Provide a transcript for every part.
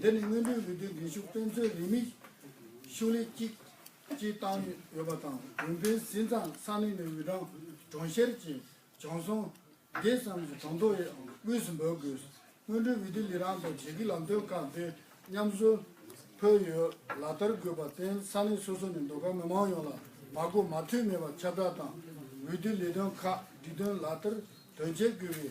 འདི་ནི་སྔོན་འགྲོའི་འོས་བསྡུའི་འགན་ཤུགས་དཔེ་མཚོན་རིན་མེད་ཤུགས་ལས་གཅིག་བཅས་བཏང་ཡོད་པ་དང་འོས་འཕེན་ཟིན་ཙང་ས་གནས་ནས་འོས་གྲངས་གྲོང་བཤེར་གྱིས་བྱང་སོང། དེ་ཙམ་གྱིས་གྲོང་ཚོ་ཡང་དབུས་སུ་འབོད་དགོས། སྔོན་འགྲོའི་འོས་བསྡུ་ལས་རང་དང་བྱེས་ཀྱི་ལམ་སྟོན་ཁག་འདི་མཉམ་བཟོ་ཕོད་ཡོད་ལག་བསྟར་དགོས་པར་བརྟེན་ས་གནས་སོ་སོ་ནས་མདོ་ཁམས་མི་མང་ཡོངས་ལ་མ་གོ་མ་ཐོས་མེད་པར་ཁྱབ་བསྒྲགས་དང་འོས་བསྡུའི་ལས་དོན་ཁག་སྒྲིག་དོན་ལག་བསྟར་དོན་འཁྱོལ་དགོས་པའི།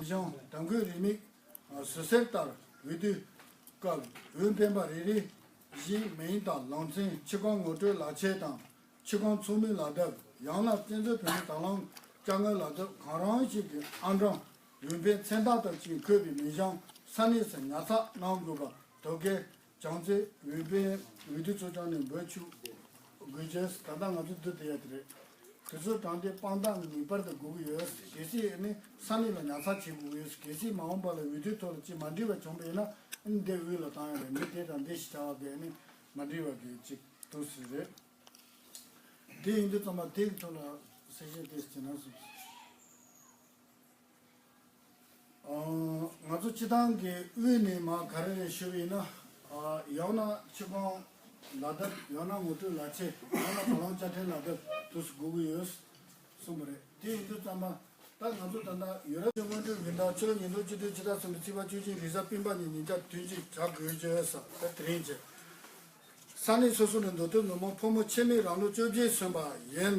ལྗང་དྲང་གོས་རེ་མིག། ཟུར་གསེར་ལྟར་འོད་དུས་བཀབ། འོས་འཕེན་པ་རེ་རེ་བཞི། མེ་ཡིན་དང་ལང་ཚན་ཕྱི་རྐང་ངོ་སྤྲོད་ལག་ཆས་དང་ཕྱི་རྐང་ཚོགས་མིའི་ལག་འདབ་ཡང་ན་བཙན་བྱོལ་བོད་མིའི་དང་བླངས་སྐྱ་རྔན་ལག་འདབ་གང་རང་ཞིག་གི་ཨ་འབྲང་འོས་འཕེན་མཚན་རྟགས་དང་བཅས་འཁོད་པའི་མི་གཞང་ས་གནས་སུ་ཉར་ཚགས་གནང་དགོས་པ་དོ་གལ་བྱང་རྩེ་འོས་པའི་འོས་བསྡུ་ཚོ་ཅང་ནས་འབོད་ཆུག་དགོས་ཆེས་ད་ལྟ་ང་ཚོ་འདུ་དེ་ཡ་དེ་རེད་དེ་ཚོ་དྲང་བདེན་དཔང་རྟགས་ངེས་པར་དུ་དགོས་ཀྱི་ཡོད་གལ་སྲིད་ནི་ས་གནས་ལ་ཉར་ཚགས་བྱེད་དགོས་ཀྱི་ཡོད་གལ་སྲིད་མ་འོངས་པ་ལ་འོས་བསྡུའི་ཐོག་ལ་ཅི་མ་འགྲིག་པ་བྱུང་པ་ཡིན་ན་འདི་དབུས་ལ་བཏང་ཡོད་པའི་མི་དེ་དྲང་བདེན་ཞིག་བྱ་བ་དེ་ནི་མ་འགྲིག་བ་དེ་ཅིག་ཏུ་ཟིན་རེད་དེ་ཡིན་དུས་ཚང་མ་དེ་གི་ཐོག་ལ་གསལ་བཤད་དེ་བྱེད་ན་ཟུག། ང་ཚོ་སྤྱི་བཏང་གི་དབུས་ནས་མ་ག་རེ་རེ་ཞུ་ཡིན་ན། ཡང་ན་ཆུ་སྒང་ལ་བརྡབ་ཡང་ན་ངོ་སྤྲོད་ལ་ཆེ་ཡང་ན་བ་ལང་བཅའ་ཕྲན་ལ་བརྡབ་དུ་སྒུག་གི་ཡོད་གསུངས་པ་རེད་དེ་ཡིན་དུས་བརྩམས་པ་ད་ང་ཚོ་ད་ལྟ་ཡུ་རོབ། སྔོན་འགྲོའི་བི་འདང་ཆོས་ཉིན་ཐོ་སྤྱི་དོན་སྤྱི་དག་ཚང་གི་རྩིས་པ་བཅུ་གཅིག་རིས་གཟའ་སྤེན་པ་ཉིན་ཉིན་བཅར་ཐུན་གཅིག་བྱ་དགོས་ཀྱི་ཡོད་ས་དེ་དེ་རིང་བྱས། ས་གནས་སོ་སོ་ནས་མདོ་སྟོད་མི་མང་ཕོ་མོ་ཆེ་མེད་རང་ལོ་བཅོ་བརྒྱད་སོན་པ་ཡིན།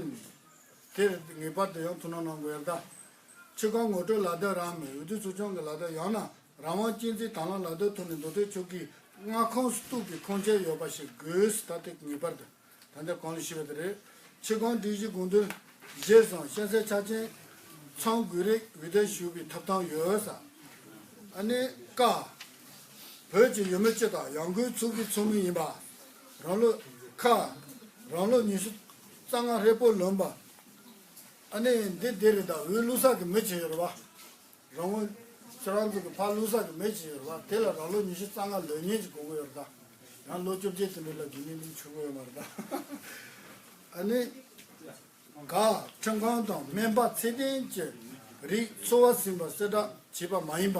དེར་ངེས་པར་དུ་ཡང་ཐུགས་སྣང་གནང་དགོས་ཡ་ད་ཆོལ་ཁ་ངོ་སྤྲོད་ལག་བསྟར་རང་མིའི་འོས་བསྡུ་ཚོ་ཆུང་གི་ལག་བསྟར་ཡང་ན་རང་དབང་སྤྱི་མཐུན་དྭང་བླངས་ལག་བསྟར་ཐོག་ནས་མདོ་སྟོད་ཕྱོགས་ཀྱི་མངའ་ཁོངས་སུ་གཏུགས་པའི་ཁུངས་སྐྱེལ་ཡོད་པ་ཞིག་དགོས་ད་ལྟ་ངེས་པར་དུ་ད་ལྟ་གང་ལ་ཞུ་བ་དེ་རེད། ཆེ་གང་སྒྲིག་གཞི་དགོངས་དོན། བཞེས་བཟང་ཤ་ཟའི་ཆ་ཅན། ཚང་དགོས་རིགས་འོས་བསྡད་ཞུ་བའི་ཐབས་དང་ཡོད་ས། ཨ་ནེ། ཀ། བོད་ཀྱི་ཡུལ་མི་སྤྱི་དང་ཡང་སྒོས་ཚུགས་ཀྱི་ཚོགས་མི་ཡིན་པ། རང་ལོ། ཁ། རང་ལོ་ཉི་ཤུ་རྩ་ལྔ་ཧྲིལ་པོ་ལོན་པ། ཨ་ནེ། འདི་དེ་རེད་ད་འུའི་བླུ་ས་གི་མི་བྱེད་ཡོད་རེད་བ། རང་འུ། ཁྱོད་རང་ཚོ་གི་ཕ་བླུ་ས་གི་མི་བྱེད་ཡོད་རེད་བ་དེ་ལ་རང་ལོ་ཉི་ཤུ་རྩ་ལྔ་ལོན་ཉེན་ཅིག་གོ་གི་ཡོད་རེད་ད། ཡང་ལོ་བཅོ་བརྒྱད་ཚུན་དེ་ལ་དགེ་བསྙེན་དུ་འཆུག་གི་ཡོད་མ་རེད་ད། ཨ་ནེ། ག། ཁྲིམས་ཁང་དང་སྨན་པ་ཚད་ལྡན་གྱི་རིགས་འཚོ་བ་ཟིན་པ་གསལ་བསྒྲགས་བྱས་པ་མ་ཡིན་པ།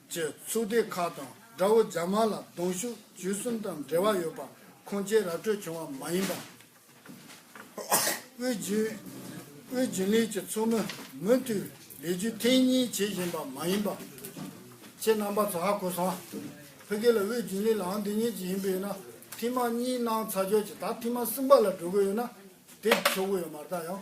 ཅེས་ཚུགས་སྡེ་ཁག་དང་དགྲ་བོ་རྒྱ་དམར་ལ་གདོང་ཤུགས་བཅུ་གསུམ་དང་འབྲེལ་བ་ཡོད་པ་ཁུངས་སྐྱེལ་ར་སྤྲོད་བྱུང་བ་མ་ཡིན་པ། དབུས་རྒྱུན་ལས་ཀྱི་ཚོགས་མི་མུ་མཐུད་ལས་རྒྱུ་ཐེངས་གཉིས་བྱེད་བཞིན་པ་མ་ཡིན་པ། ཁྱེད་རྣམ་པ་ཚོ་ཧ་གོ་སོང། ཕ་གི་ལ་དབུས་རྒྱུན་ལས་ལའང་འདི་ཉིད་ཀྱི་ཡིན་པས་ན་ཐེངས་མ་གཉིས་གནང་ཚར་ཆོག་ཅིག་ད་ཐེངས་མ་གསུམ་པ་ལ་འགྲོ་གི་ཡོད་ན་དེ་ཆོག་གི་ཡོད་མ་རྟགས་ཡང་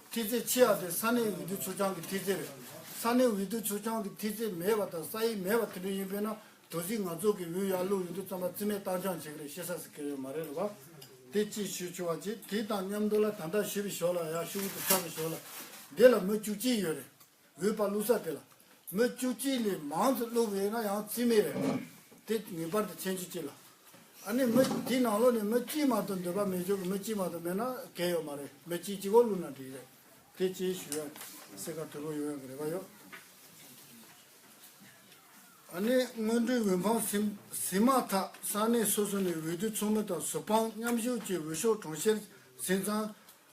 མཐིལ་ཚེ་ཆི་ཡ་དེ་ས་གནས་འོས་བསྡུ་ཚུར་བྱང་གི་མཐིལ་ཚེ་རེད། ས་གནས་འོས་བསྡུ་ཚུར་བྱང་གི་མཐིལ་ཚེ་མེད་པ་དང་ས་ཡིག་མེད་པ་དེ་འདྲ་ཡིན་དཔེར་ན་དོ་སྲིད་ནག་ཚོགས་ཀྱི་འོས་ཡར་ལུགས་ཡོད་དུས་རྩམ་པ་རྩིས་མེད་བཏང་བྱང་བྱེད་ཀྱི་རེད་ཤེས་ས་སི་ཁེ་ཡོད་མ་རེད་ལབ་པ། དེ་གཅིག་ཞུ་ཆུ་བ་གཅིག་དེ་དང་མཉམ་དུ་ལ་དམ་དྲག་ཞུས་པའི་ཞོར་ལ་ཡར་ཤུ་བོ་དུ་ཆགས་པའི་ཞོར་ལ། འདི་ལ་མི་བཅུ་གཅིག་ཡོད་རེད། འོས་པར་བླུགས་ས་དེ་ལ་མི་བཅུ་གཅིག་ལས་མང་དུ་བླུགས་པས་ན་ཡང་རྩིས་མེད་རེད། དེ་ངེས་པར་དུ་མཁྱེན་ཆུ་གཅིག་ལ། ཨ་ནི་མི་དེའི་ནང་ལོགས་ནས་མི་གཅིག་མ་གཏོགས་འདོད་པ་མེད་ཆོག་གི་མི་གཅིག་མ་གཏོགས་མེད་ན་གལ་ཡོད་མ་རེད་མི་གཅིག་གཅིག་གོ་བླུགས་ན་འགྲིག་རེད། དེ་བཅས་ཞུ་ཡང་སེ་ག་དུལ་བོ་ཡོང་ཡོང་གི་རེད་པ་ཡོད། ཨ་ནི་སྔོན་འགྲོའི་འོས་འཕངས་ཟིན་ཟིན་མ་ཐག་ས་གནས་སོ་སོ་ནས་འོས་བསྡུ་ཚོགས་མི་དང་ཟུར་དཔང་མཉམ་ཞུགས་ཀྱིས་འོས་ཤོག་གྲོང་བཤེར་ཟིན་ཙང་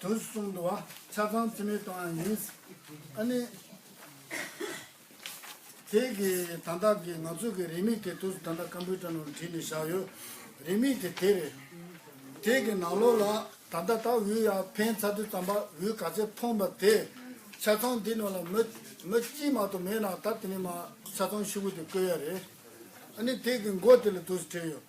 དུ་གསུང་དུ་བ་ཆ་ཚང་ཚིམ་མེད་གཏོང་ཡང་ཡིན། ཨ་ནི། དེ་གི་དང་བདག་གི་ང་ཚོ་གི་རིན་མེད་གི་དུ་དང་བདག་སྐམ་པོའི་དྲ་ནོར་བྲིས་ནས་བཞག་ཡོད། རིན་མེད་གི་དེ་རེད། དེ་གི་ནང་ལོགས་ལ་ད་ལྟ་ད་འུ་ཡར་འཕེན་ཚར་དུས་དམ་པ་འུ་ག་ཚད་མཐོང་པ་དེ། ཆ་ཚང་འདི་ནོར་ལ་མི་མི་གཅིག་མ་གཏོགས་མེད་ན་ད་དེ་ནས་མ་ཆ་ཚང་ཤི་བོ་དེ་བསྐོས་ཡ་རེད། ཨ་ནི་དེ་གི་མགོ་དེ་ལ་དུ་བྲིས་ཡོད།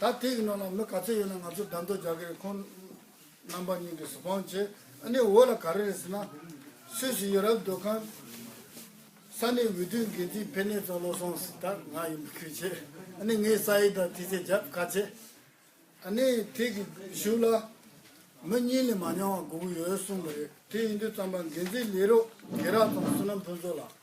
ད་དེ་ཡི་ནང་ན་མི་ག་ཚོད་ཡོད་ན་ང་ཚོ་བདམས་ཐོ་རྒྱག་གི་རེད་ཁོང་རྣམ་པ་གཉིས་ཀྱི་སུ་ཕང་བྱེད་ཨ་ནི་འོ་ལ་ག་རེ་རེད་ཟེར་ན། སུད་སི་ཡོ་རབ་སྡོད་ཁང་ས་གནས་འོས་བསྡུའི་འགན་འཛིན་ཕེ་ནེ་ཙོ་བློ་བཟང་སི་ཐར་ང་ཡིན་པ་ཁུལ་བྱེད་ཨ་ནི་ངས་ས་ཡིག་དང་ཐི་ཚེ་རྒྱབ་ཁ་བྱེད་ཨ་ནི་དེ་གི་གཞུག་ལ་མི་གཉིས་ལས་མ་ཉང་བ་དགུ་ཡོད་གསུང་གི་རེད་དེ་ཡིན་དུས་རྩམ་པ་འགན་འཛིན་ལས་རོགས་དགེ་རག་དང་བསོད་ནམས་ཕུན་ཚོགས་ལགས།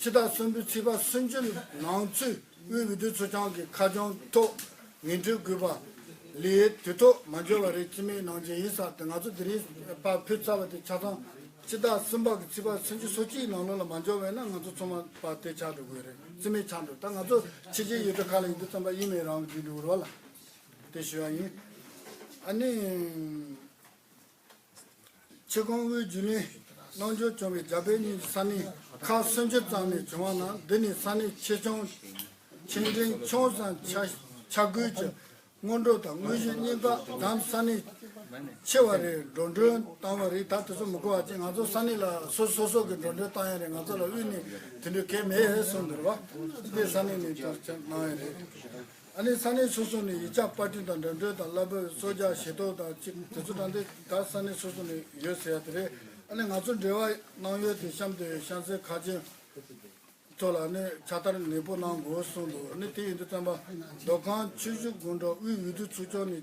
ཕྱི་ཟླ་གསུམ་པའི་ཚེས་པ་སུན་ཅུན་ནང་ཚུད་དབུས་འོས་བསྡུ་ཚོ་ཆང་གི་ཁ་རྒྱུན་ཐོག་ངན་འགྲོའི་གུས་པ་ལས་དུས་ཐོག་མ་འབྱོར་བ་རེད་ཅི་མའི་ནང་བཞིན་ཡིན་ས་དེ་ང་ཚོ་དེ་རིང་པ་ཕུད་ཚར་བ་དེ་ཆ་ཚང་ཕྱི་ཟླ་གསུམ་པ་གི་ཚེས་པ་སུན་ཅུན་སོ་གཅིག་ནང་ལོ་ལ་མ་འབྱོར་བས་ན་ང་ཚོ་ཚོ་མ་པ་དེ་ཆགས་འགྲོ་དགོས་རེད་ཅི་མའི་ཆགས་འགྲོ་ད་ང་ཚོ་ཕྱི་རྗེས་ཡོད་དུ་ཁ་ལ་ཡི་དུ་ཙམ་པ་ཡིན་མེད་རང་གིས་འགྲིག་འགྲིག་འུར་བ་ལ་དེ་ཞུ་བ་ཡིན་ཨ་ནི། ཆེ་གོང་དབུས་རྒྱུན་ལས། གནང་སྦྱོར་བྱུང་བའི་རྒྱ་བོད་གཉིས་ཀྱི་ས་གནས་ཁག་སུམ་ཅུ་ཙམ་ནས་བྱུང་བ་ན་འདི་ནི་ས་གནས་ཆེ་ཆུང། ཆེ་འབྲིང་ཆུང་སམ་ཆ་བགོས་ཀྱི་སྔོན་འགྲོ་དང་དངོས་གཞིའི་སྙིང་སྟོབས་གདམ་ས་གནས་ཆེ་བ་རེ་འགྲོ་འགྲོན་བཏང་བ་རེད་ད་དེ་ཚོ་མི་གོ་བ་ཅི་ང་ཚོ་ས་གནས་ལ་སོ་སོ་སོ་གི་འགྲོ་འགྲོན་བཏང་ཡ་རེད་ང་ཚོ་ལ་དབུས་ནས་དེ་འདྲའི་གལ་མེད་གསུངས་འདུག་རེད་བ། སྤེ་ས་གནས་ནས་ལྟར་ཆ་གནང་ཡ་རེད། ཨ་ནི་ས་གནས་སོ་སོ་ནས་ཡིག་ཆ་དཔར་སྐྲུན་དང་འགྲེམས་སྟོན་དང་གླ་འབོད་གསོལ་ཇ་ཞལ་འདོགས་དང་ཅི་དེ་ཚོ་དང་དེ་དག་ས་གནས་སོ་སོ་ནས་ཡོད་ཟེར་ཡ་དེ་རེད་ཨ་ནི་ང་ཚོ་འབྲེལ་བ་གནང་ཡོད་དེ་གཤམ་དེ་ཤང་ཚའི་ཁ་ཆེམས་ཐོག་ལ་ཨ་ནི་ཕྱག་བསྟར་ནན་པོ་གནང་དགོས་གསུངས་འདུག་ཨ་ནི་དེ་ཡིན་དུ་བསྟན་པ་མདོ་ཁམས་ཆུ་བཞི་དགོན་གྲོང་དབུས་འོས་བསྡུ་ཚོགས་ཆུང་ནས